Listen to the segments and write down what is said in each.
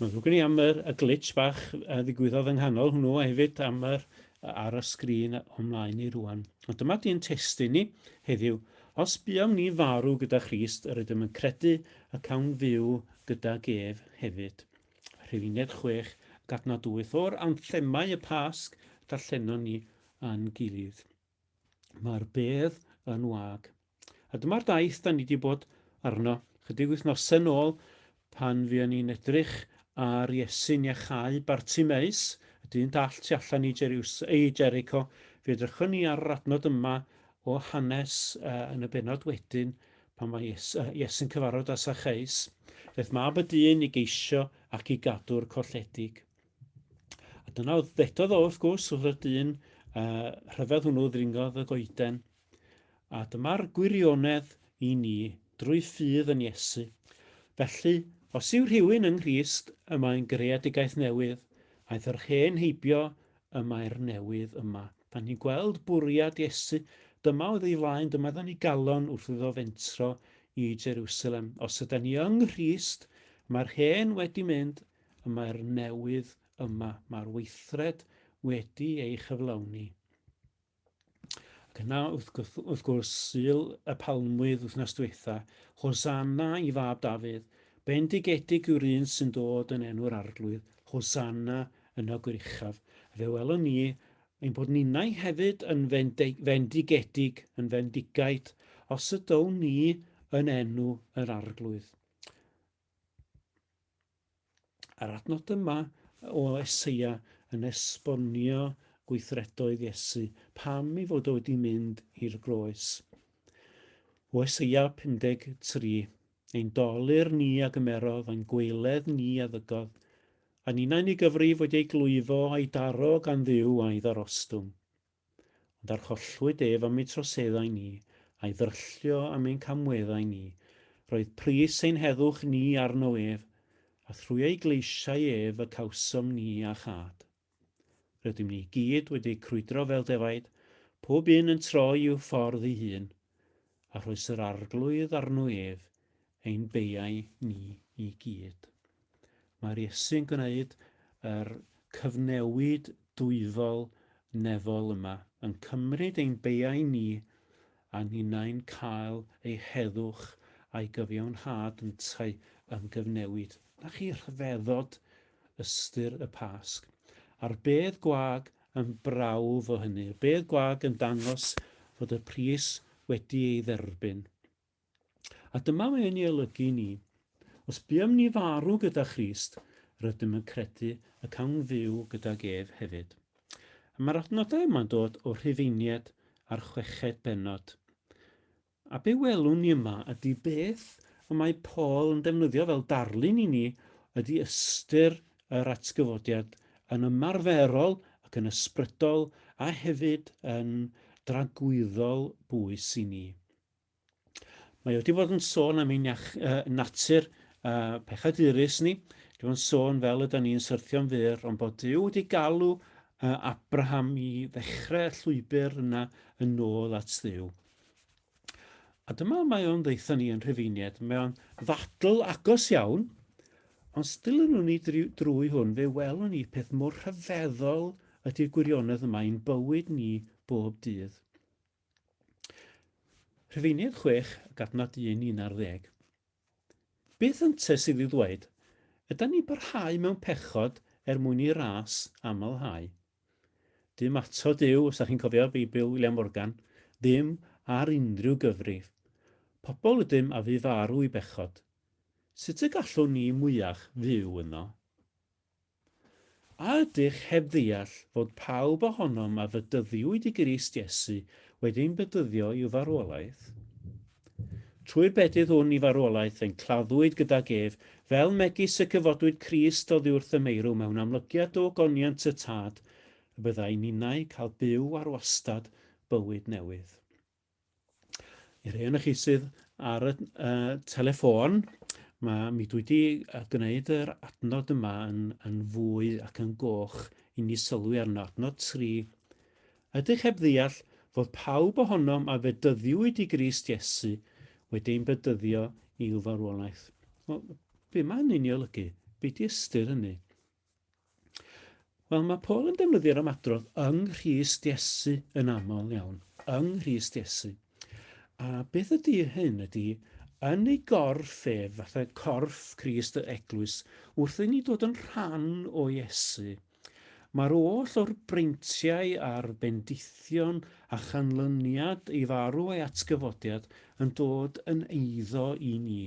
Mae'n ddrwg gen i am yr, y glitch bach a ddigwyddodd yng nghanol hwnnw a hefyd am yr ar y sgrin o'n mlaen ni rwan. Ond dyma di'n testyn ni heddiw. Os buom ni farw gyda Christ, yr ydym yn credu y cawn fyw gyda gef hefyd. Rhufeiniaid 6 ac adnod 8 o'r anthemau y Pasg darllenon ni yn gilydd. Mae'r bedd yn wag. A dyma'r daith da ni wedi bod arno chydig wythnosau nôl pan fuon ni'n edrych ar Iesu'n iachau Bartimeus, y dyn dall tu allan i, Jeriws, i Jericho. Fe edrychwn ni ar yr adnod yma o hanes uh, yn y benod wedyn pan mae Iesu, uh, Iesu'n cyfarfod â Sacheus. Daeth mab y dyn i geisio ac i gadw'r colledig. A dyna oedd ddedodd o, wrth gwrs, wrth y dyn uh, rhyfedd hwnnw ddringodd y goeden. A dyma'r gwirionedd i ni, drwy ffydd yn Iesu. Felly, os yw rhywun yng Nghrist, y mae'n greadigaeth newydd, aeth yr hen heibio, y mae'r newydd yma. Da ni'n gweld bwriad Iesu, dyma oedd ei flaen, dyma oedd yn ei galon wrth iddo fentro i Jerusalem. Os yda ni yng Nghrist, mae'r hen wedi mynd, y mae'r newydd yma, mae'r weithred wedi ei chyflawni. Ac yna, wrth, gwrs, wrth gwrs, Sul y Palmwydd wythnos diwetha, Hosanna i fab Dafydd, bendigedig yw'r un sy'n dod yn enw'r arglwydd, Hosanna yn y goruchaf. Fe welwn ni ein bod ninnau hefyd yn fendigedig, yn fendigaid, os ydown ni yn enw yr arglwydd. A'r adnod yma o Eseia yn esbonio gweithredoedd Iesu, pam ei fod o wedi mynd i'r groes. O Eseia 53, ein dolir ni a gymerodd, ein gweiledd ni a ddygodd, a ninau'n ei gyfrif wedi ei glwyfo a'i daro gan ddiw a'i ddarostwng. Ond arhollwyd ef am ei troseddau ni, a'i ddrylllio am ein camweddau ni. Roedd pris ein heddwch ni arno ef, a thrwy ei gleisiau ef y cawsom ni a chad. Rydym ni i gyd wedi crwydro fel defaid, pob un yn troi i'w ffordd ei hun. a rhoes yr Arglwydd arno ef, ein beiau ni i gyd. Mae'r Iesu'n gwneud yr cyfnewid dwyfol nefol yma, yn cymryd ein beiau ni a ninnau'n cael ei heddwch a'i gyfiawnhad yntau yn gyfnewid. Na chi rhyfeddod ystyr y Pasg, a'r bedd gwag yn brawf o hynny. Y bedd gwag yn dangos fod y pris wedi ei dderbyn. A dyma mae yn ei olygu i ni. Os buom ni farw gyda Christ, rydym yn credu y cawn fyw gydag ef hefyd. A mae'r adnodau yma'n dod o Rhufeinied a'r chweched bennod. A be welwn ni yma ydy beth y mae Paul yn defnyddio fel darlun i ni ydy ystyr yr atgyfodiad yn ymarferol ac yn ysbrydol a hefyd yn dragwyddol bwys i ni. Mae o wedi bod yn sôn am ein iach, uh, natur uh, pechadurus ni, wedi bod yn sôn fel ydy ni'n syrthio'n fyr, ond bod Dyw wedi galw uh, Abraham i ddechrau llwybr yna yn ôl at Ddyw. A dyma mae o'n ddeitha ni yn Rhufeiniaid, mae o'n ddadl agos iawn, ond still yn ni drwy hwn, fe welwn ni peth mor rhyfeddol ydy'r gwirionedd yma i'n bywyd ni bob dydd. Rhufeiniaid 6 ac adnod 1, 11. Beth ynte sydd i ddweud? Ydan ni'n parhau mewn pechod er mwyn i ras amlhau? Dim atod yw, os da chi'n cofio Beibl William Morgan, ddim ar unrhyw gyfrif. Pobl ydym a fu farw i bechod. Sut y gallwn ni mwyach fyw yno? A ydych heb ddeall fod pawb ohonom a fedyddiwyd i Grist Iesu wedi ein bedyddio i'w farwolaeth? Trwy'r bedydd hwn i farwolaeth ein claddwyd gydag ef, fel megis y cyfodwyd Crist oddiwrth y meirw mewn amlygiad o ogoniant y Tad, y byddai ninnau cael byw ar wastad bywyd newydd. I'r rhai o'noch chi sydd ar y uh, telefon, mae mi dwi wedi gwneud yr adnod yma yn, yn fwy ac yn goch i ni sylwi arno. Adnod 3. Ydych heb ddeall fod pawb ohonom a fedyddiwyd i Grist Iesu wedi ein bedyddio i'w farwolaeth? Wel, be mae hynny'n ei olygu? Be di ystyr hynny? Wel, mae Paul yn defnyddio'r ymadrodd yng Nghrist Iesu yn aml iawn, yng Nghrist Iesu. A beth ydy hyn ydy, yn ei gorff ef, fatha corff Crist y eglwys, wrth i ni dod yn rhan o Iesu, mae'r oll o'r breintiau a'r bendithion a chanlyniad ei farw a'i atgyfodiad yn dod yn eiddo i ni,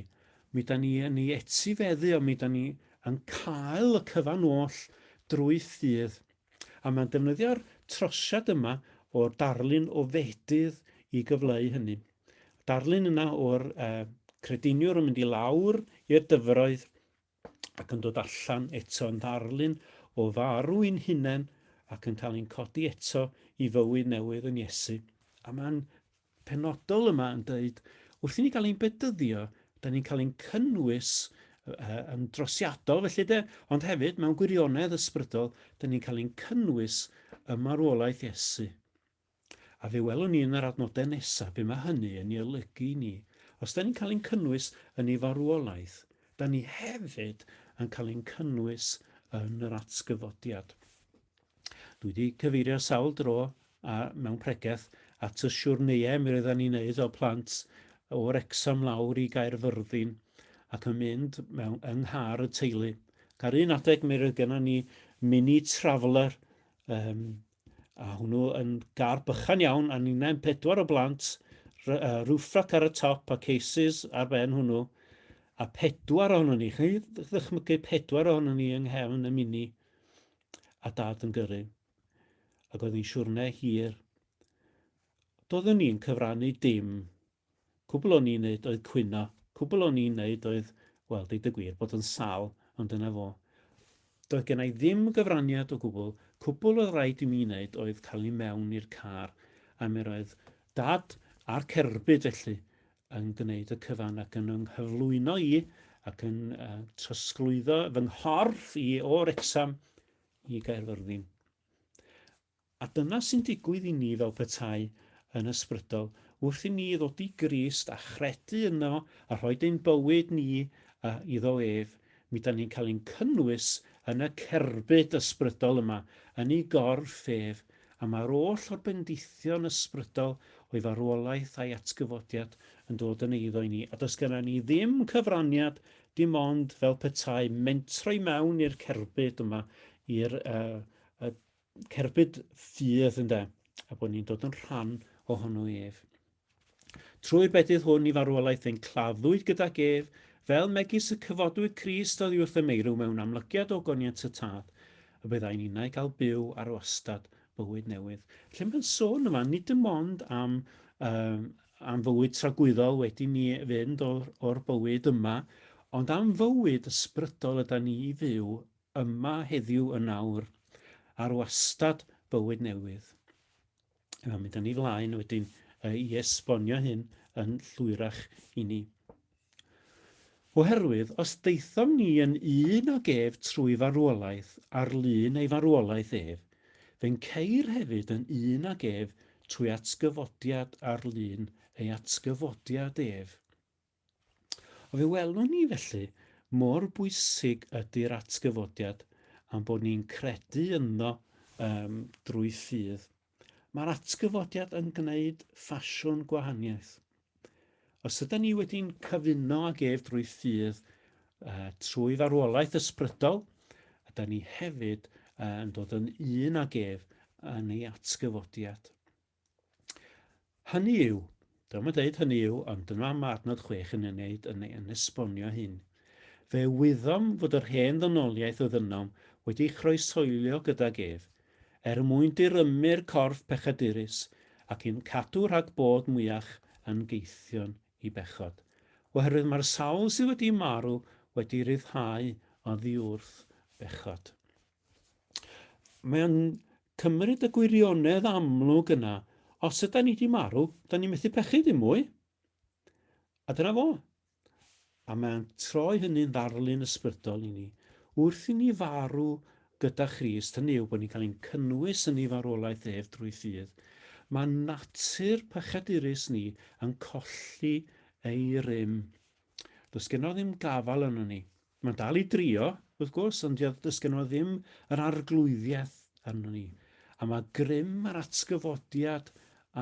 Mi dan ni yn ei etifeddu o, mi dan ni yn cael y cyfan oll drwy ffydd. A mae'n defnyddio'r trosiad yma o'r darlun o fedydd i gyfleu hynny. Darlun yna o'r uh, crediniwr yn mynd i lawr i'r dyfroedd ac yn dod allan eto yn ddarlun o farw i'n hunain ac yn cael ein codi eto i fywyd newydd yn Iesu. A mae'n penodol yma yn dweud, wrth i ni gael ein bedyddio, da ni'n cael ein cynnwys yn drosiadol felly de, ond hefyd mewn gwirionedd ysbrydol, da ni'n cael ein cynnwys ym marwolaeth Iesu. A fe welwn ni yn yr adnodau nesaf be mae hynny yn ei olygu i ni. Os da ni'n cael ein cynnwys yn ei farwolaeth, da ni hefyd yn cael ein cynnwys yn yr atgyfodiad. Dwi 'di cyfeirio sawl dro, a mewn pregeth, at y siwrneiau mi roeddan ni'n neud o plant o Wrecsam lawr i Gaerfyrddin ac yn mynd mewn yng nghar y teulu. Ca'r un adeg mi roedd gennon ni mini traveller um, a hwnnw yn gar bychan iawn a ni'n ein pedwar o blant, roof rack ar y top a cases ar ben hwnnw, a pedwar ohono ni, chi'n ddychmygu pedwar ohono ni yng nghefn y mini. a Dad yn gyrru, ac oedd hi'n siwrne hir. Doeddwn ni'n cyfrannu dim. Cwbl o'n i'n neud oedd cwyno. Cwbl o'n i'n neud oedd, wel, deud y gwir, bod yn sal, ond dyna fo. Doedd gen i ddim gyfraniad o gwbl. Cwbl oedd rhaid i mi wneud oedd cael i mewn i'r car, a mi roedd Dad a'r cerbyd felly yn gwneud y cyfan ac yn yng nghyflwyno i ac yn uh, trosglwyddo fy nghorff i o Wrecsam i Gaerfyrddin. A dyna sy'n digwydd i ni fel petai yn ysbrydol wrth i ni ddod i Grist a chredu yno a rhoi ein bywyd ni uh, iddo ef, Mi dan ni'n cael ein cynnwys yn y cerbyd ysbrydol yma, yn ei gorff ef, a mae'r oll o'r bendithion ysbrydol o'i farwolaeth a'i atgyfodiad yn dod yn eiddo i ni, a does genna ni ddim cyfraniad dim ond fel petai mentro i mewn i'r cerbyd yma, i'r uh, uh, cerbyd ffydd ynde, a bod ni'n dod yn rhan ohono ef. Trwy'r bedydd hwn i farwolaeth ein claddwyd gydag ef, fel megis y cyfodwyd Crist oddi wrth y meirw mewn amlygiad o goniant y Tad, y byddai ninnau gael byw ar wastad bywyd newydd. Felly mae'n sôn yma nid dim ond am, um, am fywyd tragwyddol wedi ni fynd o'r, or bywyd yma, ond am fywyd ysbrydol yda ni i fyw yma heddiw yn awr, ar wastad bywyd newydd. Yna mynd â ni flaen wedyn uh, i esbonio hyn yn llwyrach i ni. Oherwydd, os daethom ni yn un ag ef trwy farwolaeth ar lun ei farwolaeth ef, fe'n ceir hefyd yn un ag ef trwy atgyfodiad ar lun ei atgyfodiad ef. Fe welwn ni felly mor bwysig ydy'r atgyfodiad a'n bod ni'n credu ynddo um, drwy ffydd. Mae'r atgyfodiad yn gwneud ffasiwn gwahaniaeth. Os ydyn ni wedi'n cyfuno ag ef drwy ffydd uh, trwy farwolaeth ysbrydol, ydyn ni hefyd uh, yn dod yn un ag ef yn ei atgyfodiad. Hynny yw, dyma dweud hynny yw, ond dyna mae adnod chwech yn ei wneud yn, yn esbonio hyn. Fe wyddom fod yr hen ddynoliaeth oedd ynom wedi chroesoelio gydag ef, er mwyn dirymu'r corff pechadurus ac i'n cadw rhag bod mwyach yn geithion i bechod. Oherwydd mae'r sawl sydd wedi marw wedi rhyddhau oddi wrth bechod. Mae o'n cymryd y gwirionedd amlwg yna. Os yda ni wedi marw, da ni methu pechu dim mwy. A dyna fo. A mae'n troi hynny'n ddarlun ysbrydol i ni. Wrth i ni farw gyda Christ, hynny yw bod ni'n cael ein cynnwys yn ei farwolaeth ef drwy ffydd, mae natur pechadurus ni yn colli ei rym. Does genno ddim gafal yno ni. Mae'n dal i drio, wrth gwrs, ond dio- does gennym o ddim yr arglwyddiaeth arno ni. A mae grym a'r atgyfodiad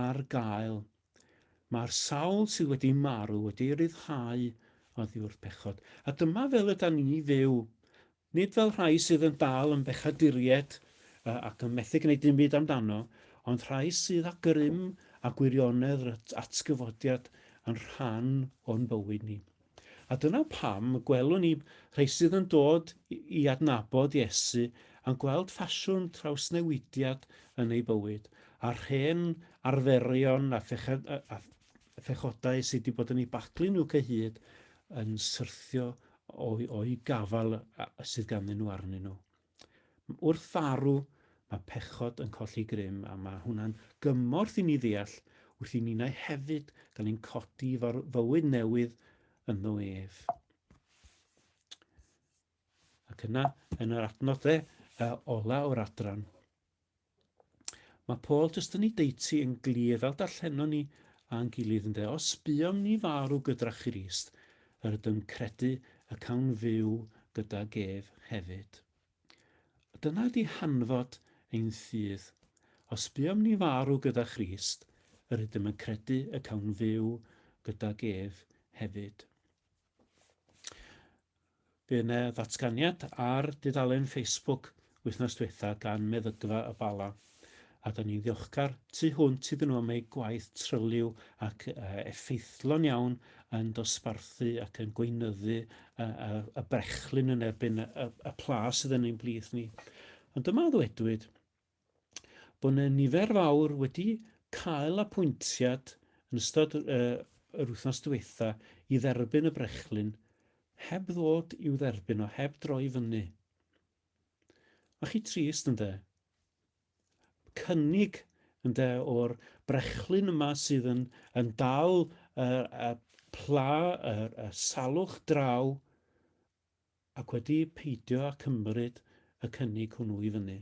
ar gael. Mae'r sawl sydd wedi marw wedi ei ryddhau oddi wrth bechod. A dyma fel yda ni fyw. Nid fel rhai sydd yn dal yn bechaduried uh, ac yn methu gwneud dim byd amdano, ond rhai sydd â grym a gwirionedd yr at- atgyfodiad yn rhan o'n bywyd ni. A dyna pam y gwelwn ni rhai sydd yn dod i adnabod Iesu yn gweld ffasiwn trawsnewidiad yn eu bywyd, a'r hen arferion a phechodau sydd wedi bod yn eu baglu nhw cyhyd yn syrthio o'i gafal sydd ganddyn nhw arnyn nhw. Wrth farw, mae pechod yn colli grym, a mae hwnna'n gymorth i ni ddeall wrth i ninnau hefyd gael ein codi i fywyd newydd ynddo ef. Ac yna, yn yr adnodde uh, ola o'r adran, Mae Paul jyst yn ei deutu yn glir fel darllenon ni a'n gilydd ynde, os buom ni farw gyda Christ, yr ydym credu y cawn fyw gydag ef hefyd. Dyna ydy hanfod ein ffydd. Os buom ni farw gyda Christ, yr ydym yn credu y cawn fyw gydag ef hefyd. Bydd yna ddatganiad ar dudalen Facebook wythnos diwetha gan Meddygfa y Bala, a da ni'n ddiolchgar tu hwnt iddyn nhw am eu gwaith tryliw ac effeithlon iawn yn dosbarthu ac yn gweinyddu y brechlyn yn erbyn y pla sydd yn ein blith ni. Ond dyma ddwedwyd, bod 'na nifer fawr wedi cael apwyntiad yn ystod yr wythnos diwetha' i dderbyn y brechlyn heb ddod i'w dderbyn o, heb droi i fyny. Ma' chi trist ynde? Cynnig ynde o'r brechlyn yma sydd yn yn dal y y pla y y salwch draw ac wedi peidio â chymryd y cynnig hwnnw i fyny.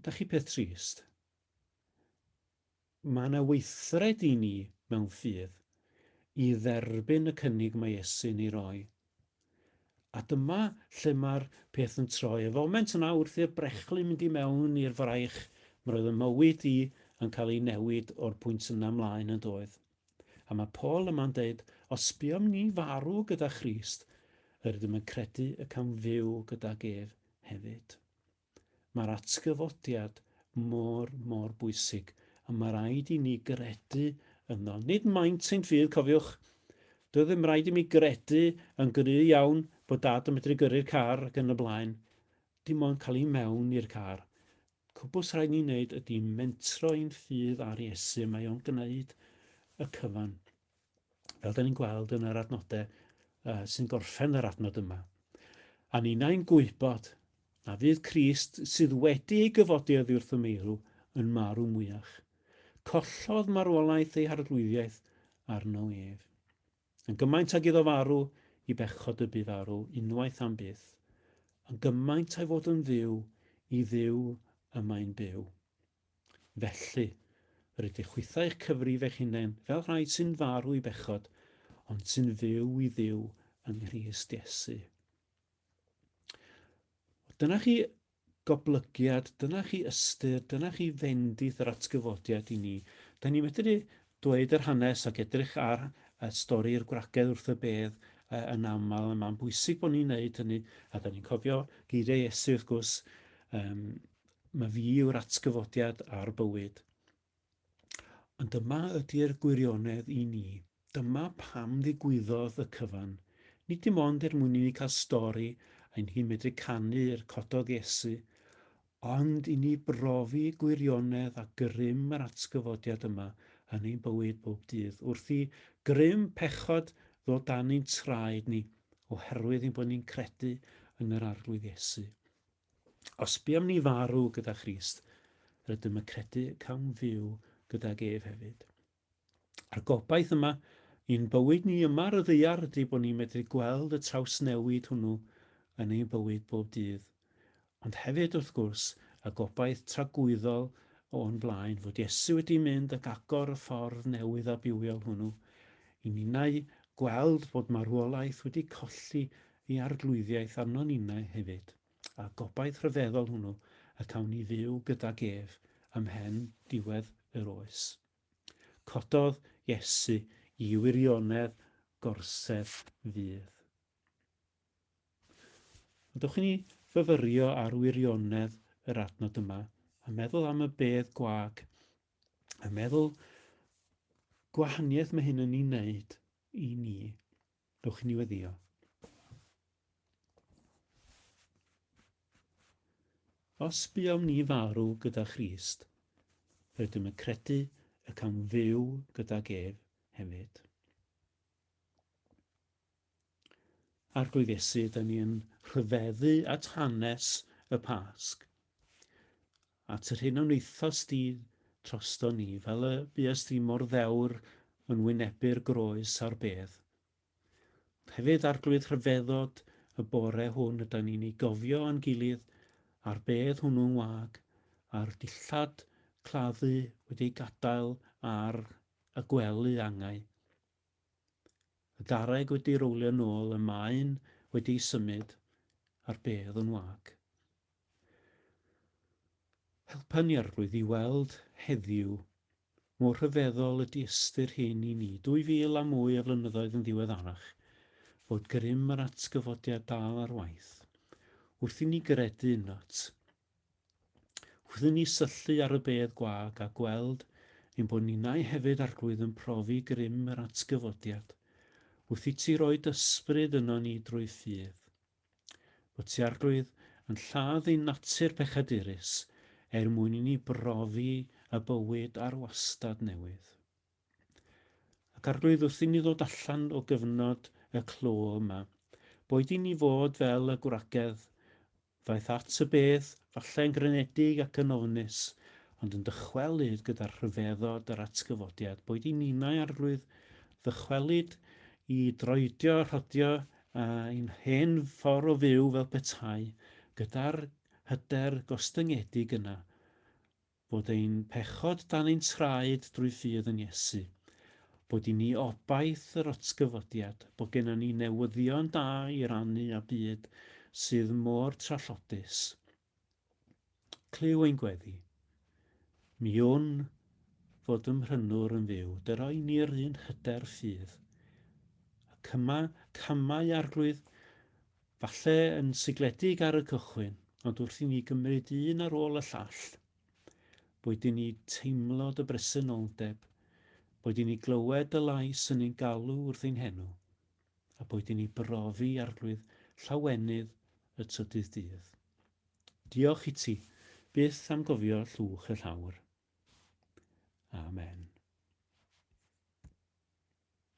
Dach chi peth trist? Mae yna weithred i ni mewn ffydd i dderbyn y cynnig mae Iesu'n ei roi. A dyma lle mae'r peth yn troi. Y foment yna wrth i'r brechlyn mynd i mewn i'r fraich, roedd y mywyd i yn cael ei newid o'r pwynt yna mlaen yn doedd. A mae Paul yma'n deud, os buom ni farw gyda Christ, yr ydym yn credu y cawn fyw gydag ef hefyd. Mae'r atgyfodiad mor, mor bwysig, a mae rhaid i ni gredu yno. Nid maint ein ffydd, cofiwch. Doedd ddim rhaid i mi gredu yn gry iawn bod dad yn medru gyrru'r car ac yn y blaen. Dim ond cael i mewn i'r car. Cwbl rhaid ni wneud ydy mentro i'n ffydd ar Iesu, mae o'n gwneud y cyfan. Fel da ni'n gweld yn yr adnodau uh, sy'n gorffen yr adnod yma. A ninnau'n gwybod na fydd Crist sydd wedi ei gyfodi oddi wrth y meirw yn marw mwyach. Collodd marwolaeth ei harglwyddiaeth arno ef. Yn gymaint ag iddo farw i bechod y bu farw unwaith am byth, yn gymaint a'i fod yn fyw i Dduw y mae'n byw. Felly, rydych chwithau eich cyfrif eich hunain fel rhai sy'n farw i bechod, ond sy'n fyw i Dduw yng Nghrist Iesu. Dyna chi goblygiad, dyna chi ystyr, dyna chi fendith yr atgyfodiad i ni. Da ni medru dweud yr hanes ac edrych ar y stori i'r gwragedd wrth y bedd uh, yn aml, a mae'n bwysig bod ni'n neud hynny, a da ni'n cofio geiriau Iesu wrth gwrs, um, mae fi yw'r atgyfodiad a'r bywyd. Ond dyma ydy'r gwirionedd i ni. Dyma pam ddigwyddodd y cyfan. Nid dim ond er mwyn i ni cael stori ein hi'n medru canu er cododd Iesu, ond i ni brofi gwirionedd a grym yr atgyfodiad yma yn ein bywyd bob dydd, wrth i grym pechod ddod dan ein traed ni oherwydd ein bod ni'n credu yn yr Arglwydd Iesu. Os buom ni farw gyda Christ, rydym y credu y cawn fyw gydag ef hefyd. A'r gobaith yma i'n bywyd ni yma ar y ddeiar ydy bod ni'n medru gweld y trawsnewid hwnnw yn ein bywyd bob dydd. Ond hefyd, wrth gwrs, y gobaith tragwyddol o'n blaen fod Iesu wedi mynd ac agor y ffordd newydd a bywiol hwnnw i ninnau gweld bod marwolaeth wedi colli Y Arglwyddiaeth arnon ninnau hefyd, a'r gobaith rhyfeddol hwnnw y cawn ni fyw gydag ef ymhen diwedd yr oes. Cododd Iesu i wirionedd gorsedd fudd. Ond dewch i ni fyfyrio ar wirionedd yr adnod yma, a meddwl am y bedd gwag, a meddwl gwahaniaeth mae hyn yn ei wneud i ni. Dewch i ni weddio. Os buom ni farw gyda Christ, rydym yn credu y cawn fyw gydag ef hefyd. Arglwydd Iesu, da ni yn rhyfeddu at hanes y Pasg. At yr hyn a wnaethost di drosto ni, fel y buest di mor ddewr yn wynebu'r groes a'r bedd. Ond hefyd Arglwydd rhyfeddod y bore hwn yda ni'n ei gofio a'n gilydd a'r bedd hwnnw yn wag a'r dillad claddu wedi ei gadael ar y gwely angau. Y garreg wedi rowlio nôl y mae'n wedi ei symud a'r bedd yn wag. Helpa ni Arglwydd i weld heddiw mor rhyfeddol ydy ystyr hyn i ni, dwy fil a mwy o flynyddoedd yn ddiweddarach, fod grym yr atgyfodiad dal ar waith. Wrth i ni gredu yndot, wrth i ni syllu ar y bedd gwag a gweld ein bod ninnau hefyd Arglwydd yn profi grym yr atgyfodiad, wrth i ti roi d'ysbryd yno ni drwy ffydd. bod ti Arglwydd yn lladd ein natur pechadurus er mwyn i ni brofi y bywyd ar wastad newydd. Ac Arglwydd, wrth i ni ddod allan o gyfnod y clo yma, boed i ni fod fel y gwragedd, ddaeth at y beth, falle yn grynedig ac yn ofnus, ond yn dychwelyd gyda rhyfeddod yr atgyfodiad, boed i ninau, Arglwydd, ddychwelyd i droedio a rhodio ein hen ffordd o fyw fel petai, gyda'r hyder gostyngedig yna, fod ein pechod dan ein traed drwy ffydd yn Iesu, bod i ni obaith yr otgyfodiad, bod gennon ni newyddion da i rannu â byd sydd mor trallodus. Clyw ein gweddi. Mi wn fod ym Mhrynwr yn fyw, dy roi ni'r un hyder ffydd. Y cyma, camau arglwydd, falle yn sigledig ar y cychwyn, ond wrth i ni gymryd un ar ôl y llall, boed i ni teimlo dy bresenoldeb, boed i ni glywed dy lais yn ein galw wrth ein henw, a boed i ni brofi arglwydd llawenydd y trydydd dydd. Diolch iti byth am gofio llwch y llawr. Amen.